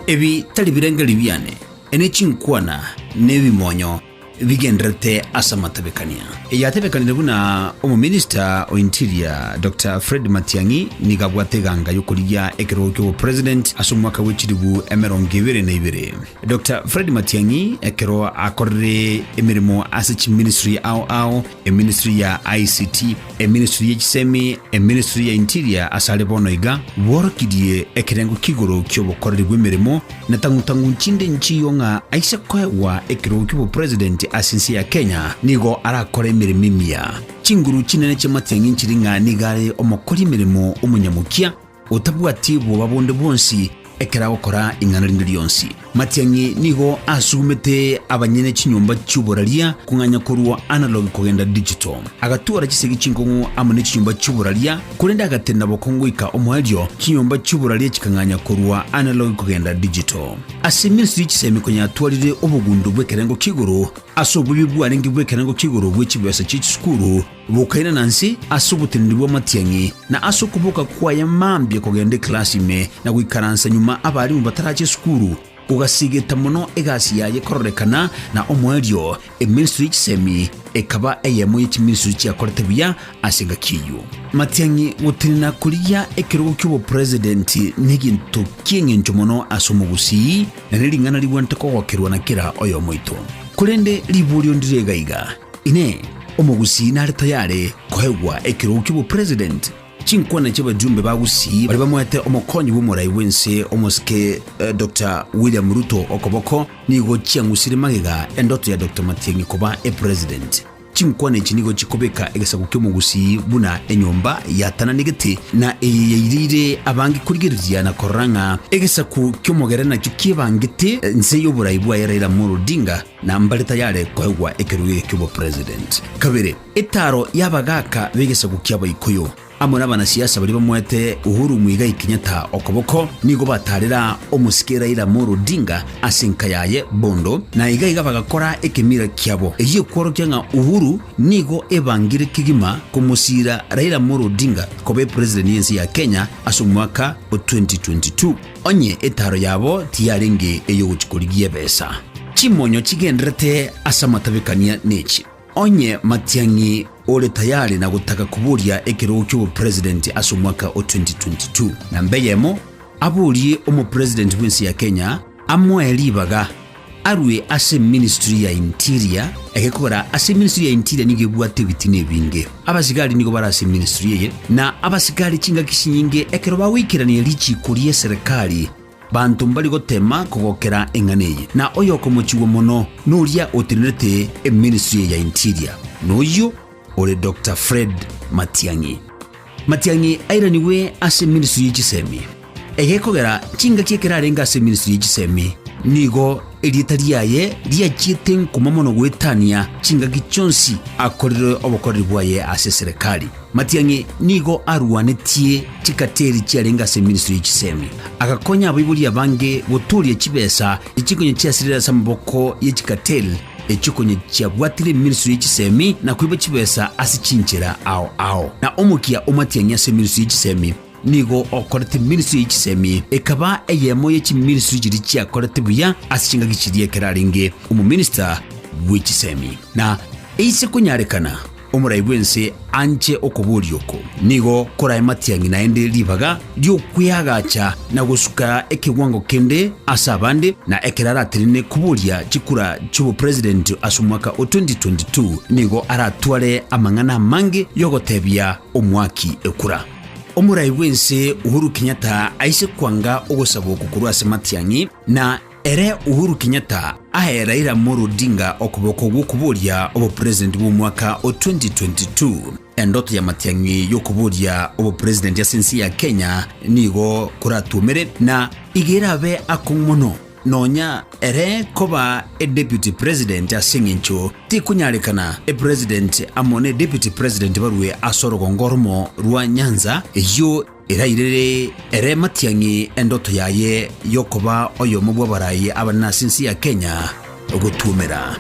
Ebi tari birengeri biane, ne chinkwana nebimonyo bigendererete ase amatabekania. Eyatebekanire buna omominista o interior Dr Fred Matiang'i nigo abwate eganga y'okorigia ekerogo ki'obopresident ase omwaka bwe chilifu emerongo ebere na ibere. Dr Fred Matiang'i ekero akorire emeremo ase chiministry ao ao eministry ya ICT, Eministry ye chisemi, Eministry ya Interior asare bono iga bworokirie ekerengo ki'igoro ki'obokoreri bw'emeremo na tang'u-tang'u nchinde enchiyo ng'a aise koegwa ekerogo ki'obopresident ase ense ya Kenya nigo arakore emeremo emiya. Chinguru chinene chi'amatiang'i nchiri ng'a nigo are omokori emeremo omonyamokia, otabwati bwoba bonde bwonsi ekero agokora ing'ana rinde rionsi. Matiang'i nigo asugumete abanyene chinyomba chi'oboraria kong'anya korwa analog kogenda digital. Agatwara chisegi chinkong'u amo ne chinyomba chi'oboraria, korende agatenena bokongo goika omoerio, chinyomba chi'oboraria chikang'anya korwa analog kogenda digital. Ase emensi ye chisemi konya atwarire obogundo bw'ekerengo ki'igoro ase obobe bwarenge bw'ekerengo ki'igoro bwe chibesa chie chisukuru, Bokaina na nse ase oboteneneri bw'amatiang'i, na ase okoboka kwaye mambia kogenda eklasi ime na goikaransa nyuma abarimu batarache esukuru, gogasigeta mono egasi yaye kororekana na omoerio, eministri ye chisemi ekaba eyemo ye chiministri chiakorete buya ase engaki eyio. Amatiang'i gotenena korigia ekerogo ki'obopresidenti neginto ki'engencho mono ase omogusii, na nering'ana rigwente kogokerwa na kera oyomo oito. Korende riborio ndire iga iga, Inee! Omogusii nare tayare koegwa ekerogo ki'obopresident? Chinkwana chi'abajumbe ba Gusii baria bamoete omokonyi bw'omorai bw'ense omosike Dokta William Ruto okoboko nigo chiang'usire magega endoto ya Dokta Matiang'i koba epresident. Chinkwana echi nigo chikobeka egesaku ki'omogusii buna enyomba yatananegete na eye yaireire abange korigereria na korora ng'a egesaku ki'omogera nakio kiebangete nse y'oborai bwaye Raila Amolo Odinga. Na mbare tayare koegwa ekerogo ki'obopresident. Kabere, etaaro y'abagaaka b'egesaku ki'Abaikuyu amo nabanasiasa baria bamoete Uhuru Muigai Kenyatta okoboko nigo bataarera omosike Raila Amolo Odinga ase enka yaye bondo, na iga iga bagakora ekemira kiabo egie kworokia ng'a Uhuru nigo ebangire kegima komosiira Raila Amolo Odinga koba epresident y'ense ya Kenya ase omwaka o 2022. Onye etaaro yabo tiyarenge ey'ogochia korigia ebesa, chimonyo chigenderete ase amatabekania nechi. Onye Matiang'i ore tayari na gotaka koboria ekerogo ki'obopresident ase omwaka o 2022, namba eyemo aborie omopresident bw'ense ya Kenya amoe ribaga. arue ase ministry ya interior, egekogera ase ministry ya interior nigo ebwate ebitina ebinge. Abasigari nigo bare ase ministry eye, na abasigari chingaki chinyinge ekero bagoikerania richiiko ri'eserekari banto mbari gotema kogokera eng'ana eye, na oyokomochigwa mono noria otenerete eministry eye ya interior, noyio ore Doctor Fred Matiang'i. Matiang'i airanigwe ase ministry ye chisemi. Egekogera chingaki ekerarenge ase ministry ye chisemi, nigo erieta riaye riachiete nkoma mono goetania chingaki chionsi akorire obokoreri bwaye ase serekari. Matiang'i nigo arwanetie chikateri chiarenge ase ministry ye chisemi, agakonya abaibori abange gotooria chibesa echikonye chiasirire ase amaboko ye chikateri Echio konya chiabwatire emiriso ye chisemi na koiba chibesa ase chinchera ao ao, na omokia o matiang'i ase emiriso ye chisemi nigo okorete emiriso ye chisemi, ekaba eyemo ye chimiriso chiria chiakorete buya ase chingaki chiria ekero arenge omominista bwe chisemi. Na eise konyarekana Omorai bw'ense anche okoboria oko, nigo korae matiang'i naende ribaga ri'okweagacha na gosuka ekegwango kende ase abande, na ekero aratenene koboria chikura chi'obopresident ase omwaka o 2022 nigo aratware amang'ana amange y'ogotebia omoaki ekura. Omorai bw'ense Uhuru Kenyatta aise kwanga ogosaba oko korwa ase matiang'i, na. Ere Uhuru Kenyatta ae Raila Amolo Odinga okoboko gw'okoboria obopresident bw'omwaka o 2022. Endoto ya matiang'i y'okoboria obopresident ase ense ya Kenya nigo koratwomere na iga erabe akong'u mono nonya ere koba edeputy president ase eng'encho tikonyarekana epresident amo nedeputy president barue ase orogongo oromo rwa nyanza eyio Erairire ere matiang'i endoto yaye y'okoba oyomo bw'abarai abanene ase ense ya Kenya gotuomera.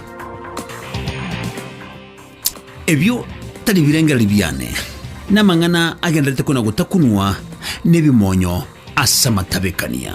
Ebio tari birengereri biane, namang'ana agenderete kona gotakunwa nebimonyo ase amatabekania.